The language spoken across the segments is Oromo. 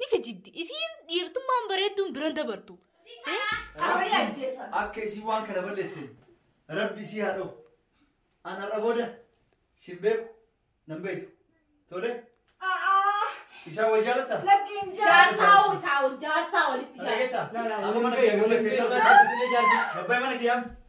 ni kijibdi isiin dhiirtummaan bareedduun biran dabartu Rabbi akka isii waan kana balleessin rabbi isii haa dhawu an har'a booda sin beeku nan beektu tole isaa wal jaalatta jaarsaa hoo isaa ol jaarsaa walitti jaarsa dhageessa amma mana kiyyaa gabbay keessaa gabbay mana kiyyaa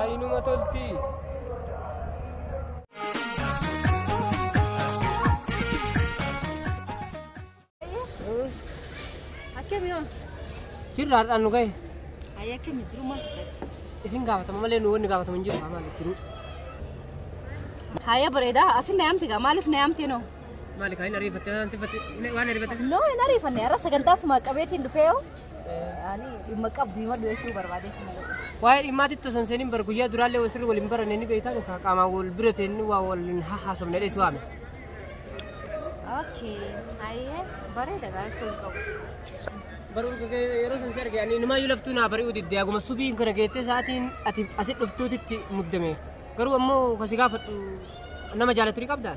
Ayinuma tolti. Akkami yoo? Jirra har'aan nu gahe. Ayyi akkami jiru maal fakkaatti? Isin gaafatama malee nu wanni gaafatamu hin jiru. Maal jiru? Haaya bareeda asin na yaamte gaa maaliif na yaamte noo? Maali kaa hin ariifatte waan sifatte waan ariifatte. Noo hin ariifanne har'a sagantaa sumaa qabeetiin dhufee yoo Ani dhimma qabdu himadhu jechuu barbaadee si malee. Waa'ee dhimmaatti itti osoo hin seeniin bar guyyaa duraallee wal sirri waliin baranne ni beektaan ka qaamaan wal bira ta'een waa waliin haasofne dhees waame. Okay. Ayyee bareeda gaachuu hin qabu. Baruu yeroo san si arge ani inumaayyuu laftuu naa bari'uu didde aguma subii kana geettee sa'aatiin ati asi dhuftuutitti muddame. Garuu ammoo kasi gaafadhu nama jaalatu ni qabdaa?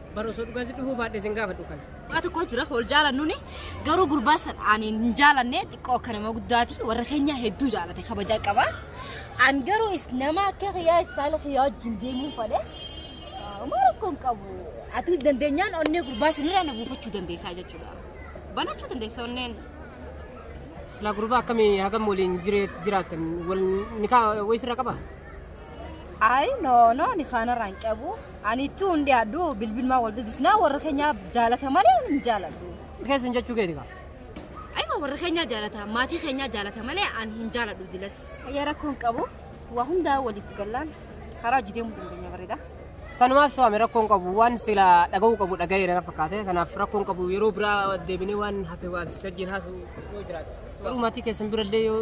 Bara osoo dhugaa si dhufuu baadhee sin gaafadhu kana. Waa tokko jira wal jaalannuni garuu gurbaa san ani hin jaalanne xiqqoo akka nama guddaati warra keenya hedduu jaalate kabajaa qaba. An garuu is nama akka kiyyaa istaala kiyyaa wajjin deemuun fale. Uma rakkoon qabu. Ati dandeenyaan onnee gurbaa sanirraa na buufachuu dandeessaa jechuudha. Banachuu dandeessa onneen. Silaa gurbaa akkamii hagam waliin jiree- jiraattan wal nikaa wayisirra qaba? Ayi no no ani kaanarraa hin qabu. Ani itti hundi addu bilbilmaa wal dubbisnaa warra keenyaa jaalata malee ani hin jaaladhu. Keessan jechuu keeti kaa. Ayima warra keenyaa jaalata maatii keenyaa jaalata malee ani hin jaaladhu dilas. Ayyee rakkoo hin qabu. Waa hundaa waliif gallaan karaa hojii deemuu dandeenya bareeda. Kanumaaf su'aame rakkoon qabu waan sila dhaga'uu qabu dhaga'ee na fakkaate kanaaf rakkoon qabu yeroo biraa deebinee waan hafe waan sajjiin haasu yoo jiraate. Garuu maatii keessan birallee yoo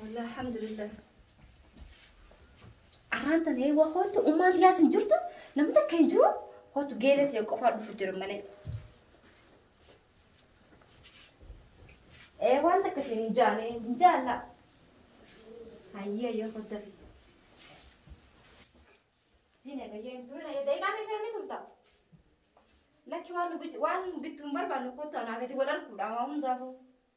Wallah alhamdulillah. Arraan tan hee waa kootu ummaan tiyaas hin jirtu namni takka hin jiru kootu geela ta'e qofaa dhufu jira malee. Ee waan takka ta'e hin jaane hin jaalla. Hayyee hayyee kootu dafi. Siin eegayyee hin turre daqiiqaa meeqa inni turta? Lakki waan nu bit- waan bittu hin barbaannu kootu anaa gadi wal arguudha waa hundaafuu.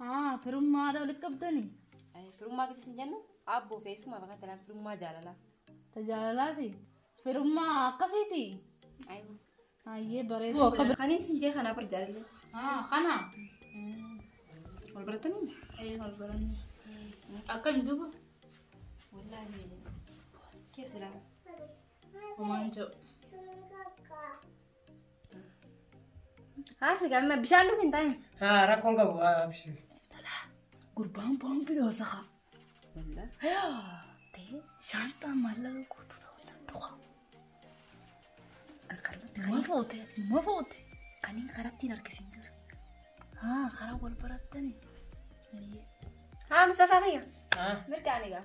Haa firummaa haadha walitti qabdani. Ay, Firummaa keessa hin jennu aabboo fi eessumaaf akka talaan firummaa jaalalaa. Ta jaalalaati. Firummaa akkasiiti. Ay, Hayyee bareedu akka bira. Kaniin sin jee kanaa bar jaalallee. Haa kana. Wal baratanii? Ee wal baranne. Akkam duuba? Wallaahi. Keef silaa. Homaan jiru. Haasa gamma bishaan dhugu hin taane. Haa rakkoon qabu haa abshii. Gurbaan boon bidhoo saha. Ta'ee shaanxaa maallaqa guutu ta'uu danda'u. Nama foote nama foote. Kanneen karatti hin argisiin jiru. Haa karaa wal barattani. Haa Mustafaa kiyya. Haa. Mirga ani gaa.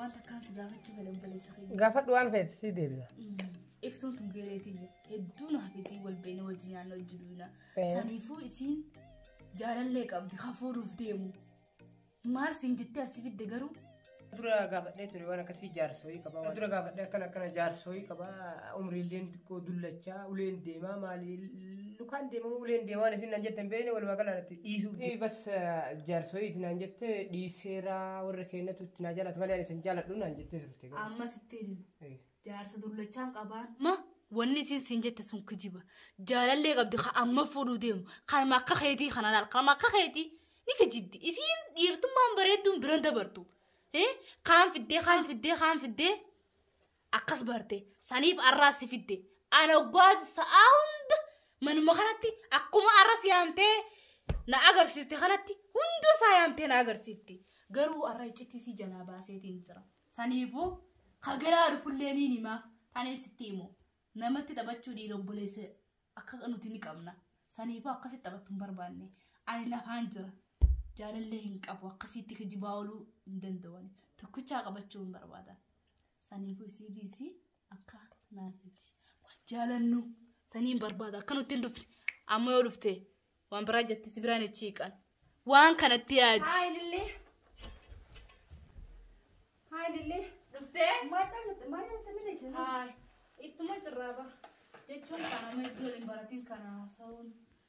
Wanta akkaan si gaafachuu fedhe obboleessa keenya. Gaafadhu waan feete sii deebisa. Iftuun tun geeleetii jira. Hedduu naaf isiin wal beekne wajjin nyaanna wajjin duuna. Eh. Saniifuu isiin jaalallee qabdi kan fuudhuuf deemu. Maal siin jettee asi fidde garuu Dura gaafadhee ture waan akkasii jaarsooyii qaba. Dura gaafadhee akkana akkana jaarsooyii qaba. Umriilleen xiqqoo dullachaa uleen deemaa maali lukaan deemamoo uleen deemaa waan isin naan jettan beekne walumaa gala natti dhiisuu fi bas jaarsooyii itti naan jette dhiiseera warra keenyatu itti naa jaalatu malee ani isin jaaladhu naan jettee turte garuu. Amma sittiin hima. Eh. Jaarsa dullachaan qabaan. Ma wanni isin siin jette sun kijiba. Jaalallee qabdi kan amma fuudhuu deemu. Kanuma akka keetii kana laal. Kanuma akka keetii ni kijibdi. Isiin dhiirtummaan bareedduun biran dabartu. Eh? Kaan fiddee kaan fiddee kaan fiddee. akkas barte saniif arraa si fidde ana oggaa sa'aa hunda manuma kanatti akkuma arra si yaamtee na agarsiiste kanatti hunda isaa yaamtee na agarsiifte garuu arra iccitii si jalaa baaseetiin jira saniifuu kagalaa dhufullee niin himaaf tanee sitti himu namatti taphachuu dhiira obboleessa akka nuti ni qabna saniifuu akkasitti taphattu hin barbaanne ani lafaan jira jaalallee hin qabu akkasitti kijibaa ooluu hin danda'u tokkichaa qabachuu hin barbaada. Saniifuu isii dhiisii akka naa feeti. Waan jaalannu saniin barbaada akka nutti hin dhufne. Amma yoo dhufte waan biraa jetti si biraan ichi hiiqan. Waan kanatti yaadi. Haay lillee. Haay lillee. Dhuftee? Maal ta'e maal ta'e malee isin. Haay. Ittuma cirraaba. Jechuun kana amma itti waliin baratiin kana haasa'uun.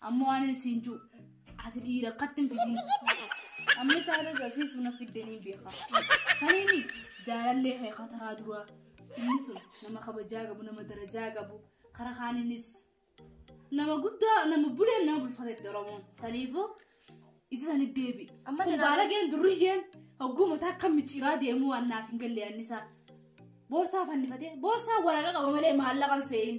Amma waan hin siin jiru. Ati dhiira akkatti hin fidin. Amma isaan agarsiisu na fiddanii beeka. Saniimi jaalallee kee kataraa duraa. Inni sun nama kabajaa qabu, nama darajaa qabu. Kara kaaninis nama guddaa, nama buleen nama bulfatetti Oromoon. Saniifuu isa sani deebi. Amma Kun jira- baalageen durriyyeen hogguu mataa akka micciiraa deemuu waan naaf hin galle annisaa. Boorsaa fannifatee, boorsaa waraqaa qaba malee maallaqan see'in.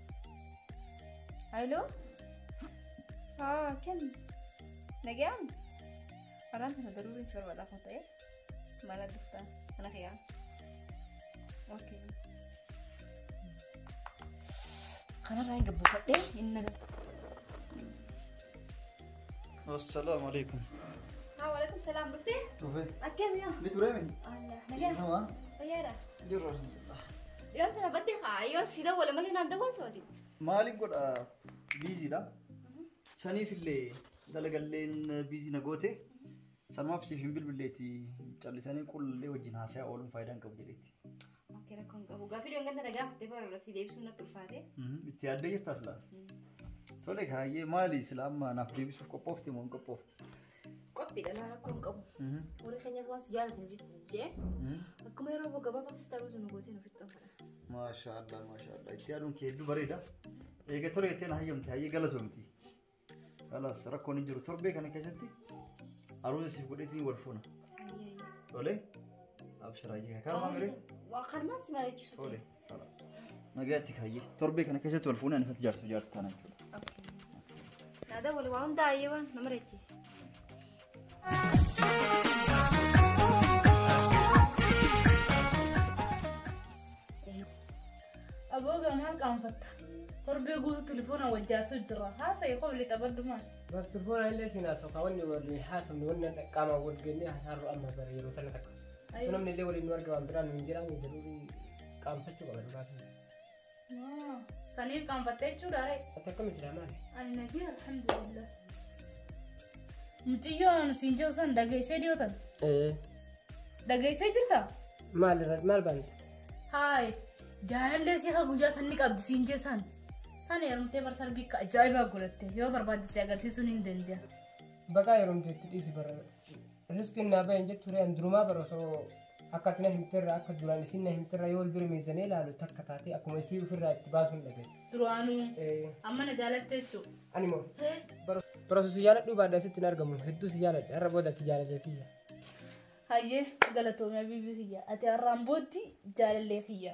Hello? Haa, kenni. Nagayaan? Araan tana daruuriin si barbaada kan ta'e. Mana dhuftaa. Mana kiyyaa. Okay. Kanarraa hin gabbifadhee inni na Assalaamu alaikum. Waalaikum salaam dhuftee? Dhufe. Akkamiya? Ni ture mi? Nagaa. Nama. Fayyaadha. Jirra. Yoo sana battee haa yoo si dawwala malee naan dawwaltu ati. Maaliin godha biiziidha. Saniif illee dalagalleen biizii na goote. Sanumaaf siif hin bilbilleeti callisanii qullee wajjin haasaa ooluun faayidaa hin qabu jedheeti. Akka rakkoo hin qabu. Gaaffii dhoon ganta nagaa fattee bara irra si deebisuun natti ulfaate. Itti yaaddee jirta silaa? Tole kaayyee maali silaa amma naaf deebisuuf qophoofte moo hin qophoofne? Qophiidha laa rakkoo hin qabu. Warri keenyas waan si jaalatan jee akkuma yeroo boo gabaabaa si taruutu nu gootee nu fixxoon fedha. Maashaallah maashaallah itti yaaduun kee hedduu bareeda. Eega tole jettee na hayyamte hayyee galatoomti. Kalaas rakkoon hin jiru torbee kana keessatti aruuza siif godheetiin wal fuuna. Tole abshiraa jee karaa miree Waa karmaan si mariichisu. tole kalaas. Nagaatti kaayyee torbee kana keessatti wal fuuna anifatti jaarsa jaarsa taana jechuudha. Naadaa wali waa hundaa ayyee waan nama reechiisa. Aboo gamaa qaanfatta. Torbee guutuu telefoona wajjaasuu jira. Haasa'e qobli taphadhumaan. Telefoona illee siin haasofaa wanni waliin haasofne wanni akka qaamaan wal geenyee hasaarru amma bara yeroo tana takka. Sun namni illee waliin nu arga waan biraan nu hin jedhamu jedhu qaanfachuu qaba dhugaa. Saniif qaanfattee jechuudha ree. Ati akkam jira maali? Ani nagee alhamdulillah. Mucayyoon siin jiru san dhageessee dhiyootan. Ee Dhageessee jirta? maal irra maal baanta? Haay jaalallee si haa guyyaa san ni qabdi siin jee san. San heerumtee bar sargii akka ajaa'ibaa godhatte yoo barbaadde si agarsiisuun hin danda'a. Baqaa yeroo itti dhiisi bara. Riskin naa bayan jettu reen durumaa bara osoo akka ati na himterra akka duraan isin na himterra yoo wal bira meesanii ilaalu takka taatee akkuma isii ofirraa itti baasuun dhabe. Duraanuu Eh, amma na jaalatte jechuu. Ani moo Hee? bara bara osoo si jaaladhuu baadha asitti hin argamu hedduu si jaaladha har'a booda ati jaalallee tiyya. Hayyee galatoomii abiibii kiyya. Ati har'aan booddee jaalallee kiyya.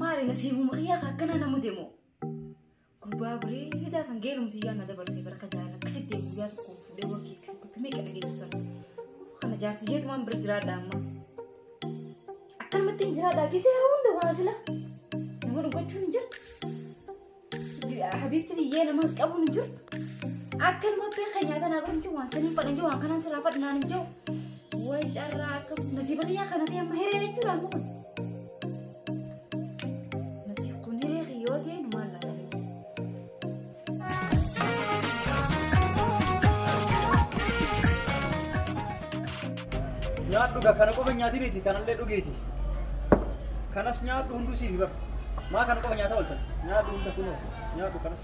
Maali nasiibuma kiyyaa ka akkanaa na mude moo? Gurbaa bareedaa san geelumti yaa na dabarsee bara ka jaalala akkasitti guyyaa tokko fuudhee warqii akkasitti akka meeqa dhageessu sana. Kana jaarsi jeetu waan bira jiraadha amma. Akkanumatti hin jiraadha gisee hunda waa sila. Nama dhugachuun hin jirtu. Habiibti biyyee namas qabu hin jirtu. Akka nama abbee kan nyaata naa godhu hin jiru waan sanii fadhan jiru waan kanaan sirraa fadhu naan hin jiru. Way carraa akka nasiiba kiyyaa kana ta'e amma hiree jechuudha amma kun. Nasiib kun hiree kiyyoo ta'e nu maal laata? Nyaadhu gaa kana qofa nyaati miti kanallee dhugiiti. Kanas nyaadhu hunduu siif bara. Maa kana qofa nyaata ooltan. Nyaadhu hunda kunoo nyaadhu kanas.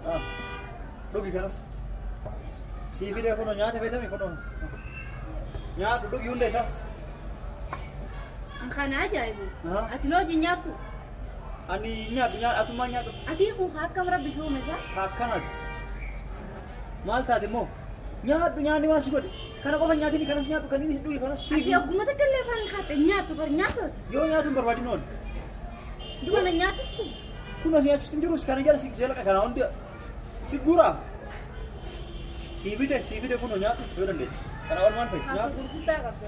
Ah, Dhugi kanas. Siif hidhee kunoo nyaata beekame kunoo. Nyaadhu dhugi hunda isaa. An kana ajaa'ibu. Aha. Ati looji nyaattu. Ani nyaadhu nyaadhu atummaa nyaadhu. Ati kun akkam rabbi soomesa. Akkanaati. Maal taate immoo? Nyaadhu nyaanni waan si godhe. Kana qofa hin nyaatini kanas nyaadhu kan inni si dhuge kanas siif. Ati ogguma takka illee afaan hin kaatte nyaattu bar nyaatooti. Yoo nyaatu hin barbaadin oolu. Duba na nyaatustu. Kun as nyaachuutti hin jirus kana jala si gisee laqa kana hundi si guura. Sii bite sii bite kun nyaatu yoo dandeessu. Kana ol maal fa'i? Kaasa Nyaadhu. gurguddaa qabda.